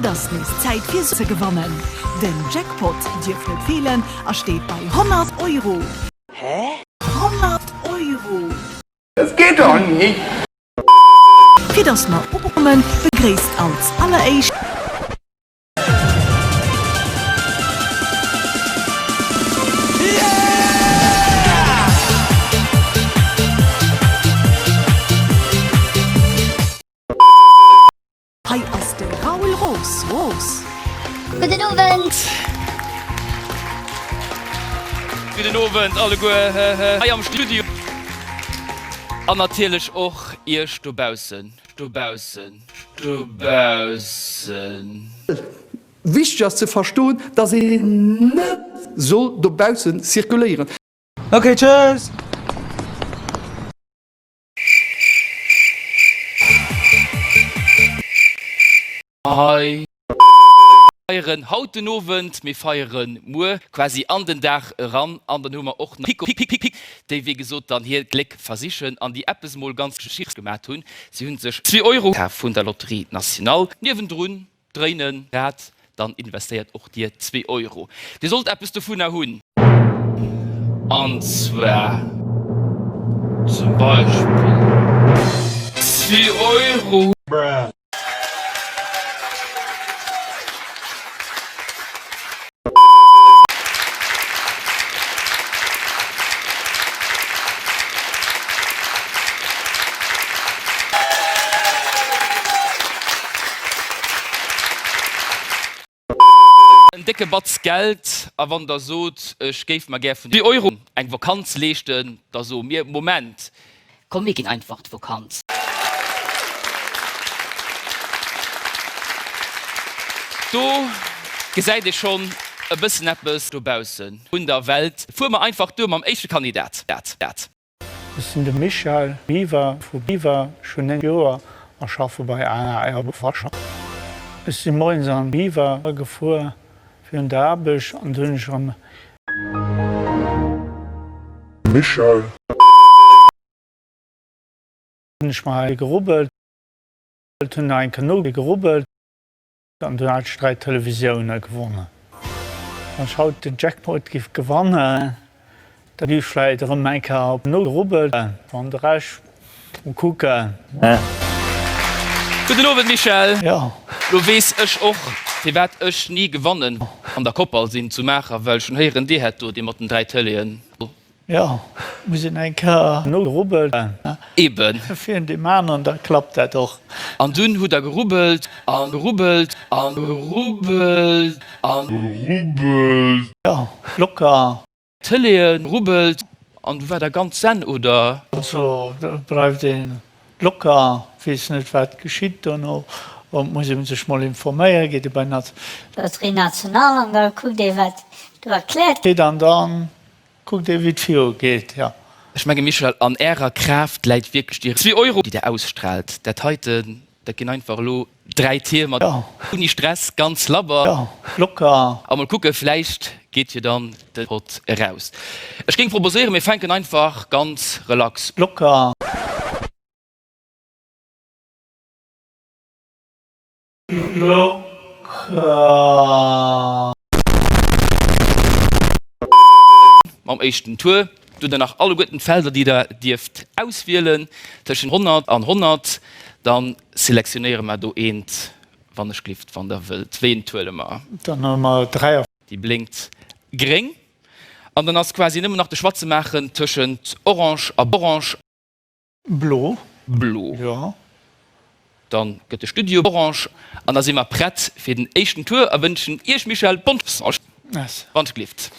Et ass nees Zäit fir se ze gewannen! Den Jackpot dierf net feelen a steet bei 100 Euro! Hä? 100 Euro! Das geht doch nicht! Fir dass mer ukommen, begréisst als alleréischt. Hei ass den Raoul Roos, Roos. Gudden Owend. Gudden Owend alleguer hei am Studio. An natierlech och iech dobaussen, dobaussen, dobaussen. Wichteg ass ze verstoen, dass een net soll dobaussen zirkuléieren. Ok, tschüss. Hei. Feieren haut den Owend, mir feieren muer quasi an den Dag eran an dann hu mer och nach Pico Pic Pic, déi wéi gesot dann hiert Gléck versichen an déi eppes mol ganz Geschichts gemat hunn, si hunn sech zwee Euro kaf vun der Loterie Nationale. Niewendrun Dréin en Rad, dann investéiert och dir zwee Euro. Dir sollt eppes dovunner hunn. An zwar zum Beispill zwee Euro. Bruh. En décke Batz Geld, a wann der sot, ech géif mer gär vun deem Euro eng Vakanz leeschten, da soe mir, Moment, Komm mir ginn einfach d'Vokant. Do gesäit ee schonn e bëssen eppes dobaussen un der Welt. Fuer mer einfach duer mam éischte Kandidat. Ech sinn de Michel Biwer vu Biwer, schon 9 Joer a schaffe bei AAR Befrascher. Ech si moiens an Biwer gefuer fir un der Aarbecht an do hunn ech am Michelle. Hun ech mer hei gerubbelt, hun nach enke no gerubbelt an du hat ech 3 Televisioune gewonnen. Wann ech haut den Jackpot giff gewannen, da giff ech vläit erëm enke op no gerubbelt. Wann de Rescht Mo kucken. Gudden Owend Michèle. Jo. Lo wees ech och firwat ech ni gewannen an der Koppal sin zu Maacher, well schon héieren dir hätt do dee mat den 3 Téléen do. Jo, muss een eng Kéier no gerubbelt. Eben. Fir un deem aneren, da klappt dat och. An dunn hutt der gerubbelt an gerubbelt an gerubbelt an gerubbelt. Jo, locker. D'Tëlee rubbelt an du war der ganz senn, oder? Also do bleift ee locker, weess net wat geschitt dono, et muss ee sech mol informéieren, geet ee bei d'Na. Loterie Nationale an da kuckt ee wat do erkläert. Geet an da kuckt ee wéi et viru geet, jo. Ech menge Michel, an ärer Kraaft läit wierklech déi. Zwee Euro, déi der ausstrahlt, dat heite Dat ginn einfach elo 3 Tier mat ouni Stress, ganz labber, locker. A mol kucken, vläicht geet jo dann de Pott eraus. Ech géing proposéieren, mir fänken einfach ganz relax, locker. Mam éischten Tour. Dunn dann nach alleguerten d'Felder déi der dierft auswielen, tëschent 100 an 100, dann selektionéiere mer do eent, wann ech glift, wann der wëllt, wéieent huele mer? Dann huele mer 3. Déi blénkt gréng an dann ass quasi nëmmen nach de Choix ze maachen tëschent orange a. Blo. Blo. Jo. Dann gëtt de Studio orange an da si mer prett fir den éischten Tour a wënschen Iech Michèle bonne chance Merci. wann et gleeft.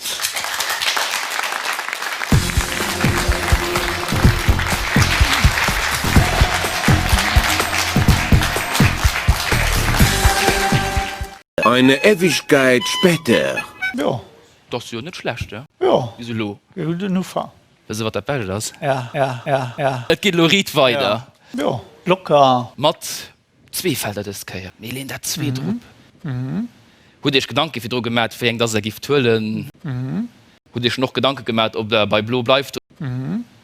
Eine Ewigkeit später. Jo. Dass jo net schlecht, jo. Bis elo. Gudden Ufank. Wësse wat dat Belscht ass? Ja, ja, ja, ja. Et geet elo riit weider. Jo, locker. Mat zwee Felder dës Kéier. Mir leen dat zweet erop. Hutt Dir Iech Gedanke virdru gemat, wéi eng dass Der gifft huelen? Hutt Dir Iech schonn och Gedanke gemat, ob Der bei blo bleift?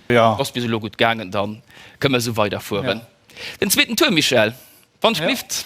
Jo. Ass bis elo gutt gaangen. Da kënne mir esou weiderfueren. Den zweeten Tour, Michèle, wann 't Iech gelift.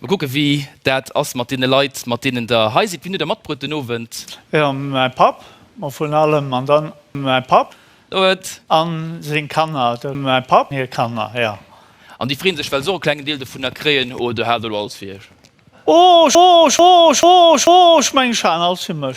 Mol kucken wéi dat ass mat deene Leit mat deenen der hei sidd. Wien huet der matbruet den Owend? Jo mäi Papp mol vun allem an dann mäi Papp. Huet. An seng Kanner dem mäi Papp hir Kanner jo. An déi freen sech well se och e klengen Deel dovunner kréien oder hat elo alles fir iech? Ooch ooch ooch ooch ooch meng Scharen alles fir mech.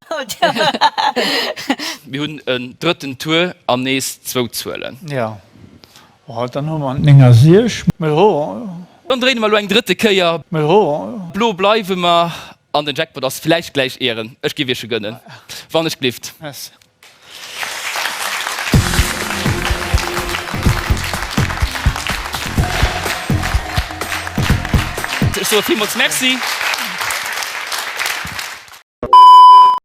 Mir hunn en drëtten Tour an nees zwou Zuelen. Jo, dann hu mer 9 a 6. Mee jo. Dann dréine mer elo eng drëtte Kéier. Mee jo. Blo bleiwe mer. An den Jackpot ass vläicht gläich Ären. Ech géif Iech e gënnen, wann ech glift. Merci. Ech soe villmools Merci.